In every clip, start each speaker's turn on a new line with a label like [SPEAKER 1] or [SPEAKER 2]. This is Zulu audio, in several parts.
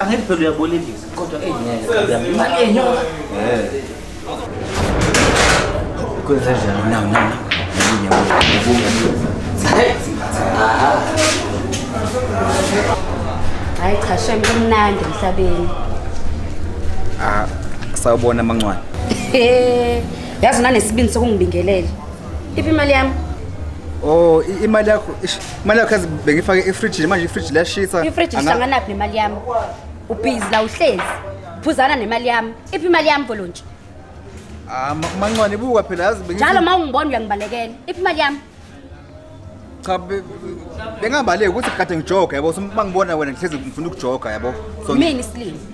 [SPEAKER 1] Angeke phela uyabolekisa kodwa engeke. Imali
[SPEAKER 2] yenyoka. Eh. Kwenze njani? No, no, no.
[SPEAKER 3] Hayi cha shem kumnandi emhlabeni. Ah,
[SPEAKER 2] sawubona mancwane. Eh,
[SPEAKER 3] yazi unanesibindi sokungibingelela. Iphi imali yami? Oh,
[SPEAKER 2] i- imali yakho ish, Imali yakho yazi bengifake efridge manje ifridge liyashisa. Ifridge Anga- ihlanganaphi
[SPEAKER 3] nemali yami? Ubhizi la uhlezi. Phuzana nemali yami. Iphi imali yami volontsha? Ah, ma-
[SPEAKER 2] mancwane buka phela yazi bengithi- Njalo uma ungibona
[SPEAKER 3] uyangibalekela. Iphi imali yami?
[SPEAKER 2] cha be- bengabaleki ukuthi kade ngijoga yabo so uma ngibona wena ngihlezi ngifuna ukujoga yabo so ngi- Mina isilima.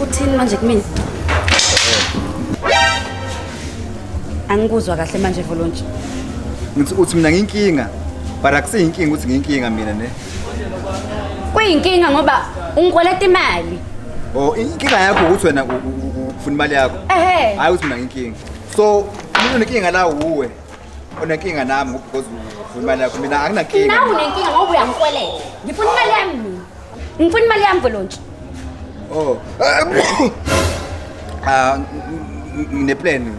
[SPEAKER 3] Uthini manje kumina? Angikuzwa kahle manje Volontshi. Ngithi
[SPEAKER 2] uthi mina nginkinga. But akusiyinkinga ukuthi nginkinga mina ne.
[SPEAKER 3] Kuyinkinga ngoba ungikweleta imali. Oh, inkinga
[SPEAKER 2] yakho ukuthi wena ufuna imali yakho. Ehhe. Hayi ukuthi mina nginkinga. So, umuntu onenkinga la uwe. Onenkinga nami ngoba because ufuna imali yakho. Mina anginankinga. Nawe unenkinga ngoba
[SPEAKER 3] uyangikweleta. Ngifuna imali yami mina. Ngifuna imali yami Volontshi. Oh.
[SPEAKER 2] Ah, ngine plan.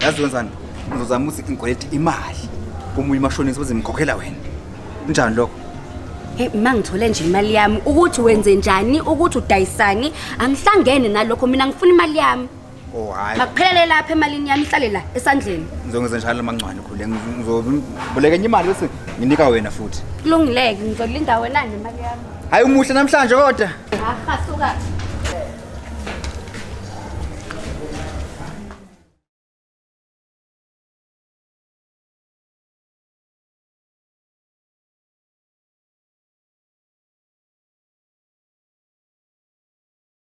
[SPEAKER 2] Yazi wenzani? Ngizozama ukuthi ngikwelete imali. Omunye umashonisa uzimkhokhela wena. Kunjani lokho? Hey ma ngithole
[SPEAKER 3] nje imali yami ukuthi wenze njani ukuthi udayisani angihlangene nalokho mina ngifuna imali yami. Oh hayi. Makuphelele
[SPEAKER 2] lapha emalini
[SPEAKER 3] yami ihlale la esandleni. Ngizongeza njalo amancwane
[SPEAKER 2] khule. Ngizoboleka enye imali bese nginika wena futhi. Kulungileke
[SPEAKER 3] ngizolinda
[SPEAKER 2] wena nemali
[SPEAKER 3] yami.
[SPEAKER 2] Hayi umuhle namhlanje kodwa. Aha
[SPEAKER 3] suka.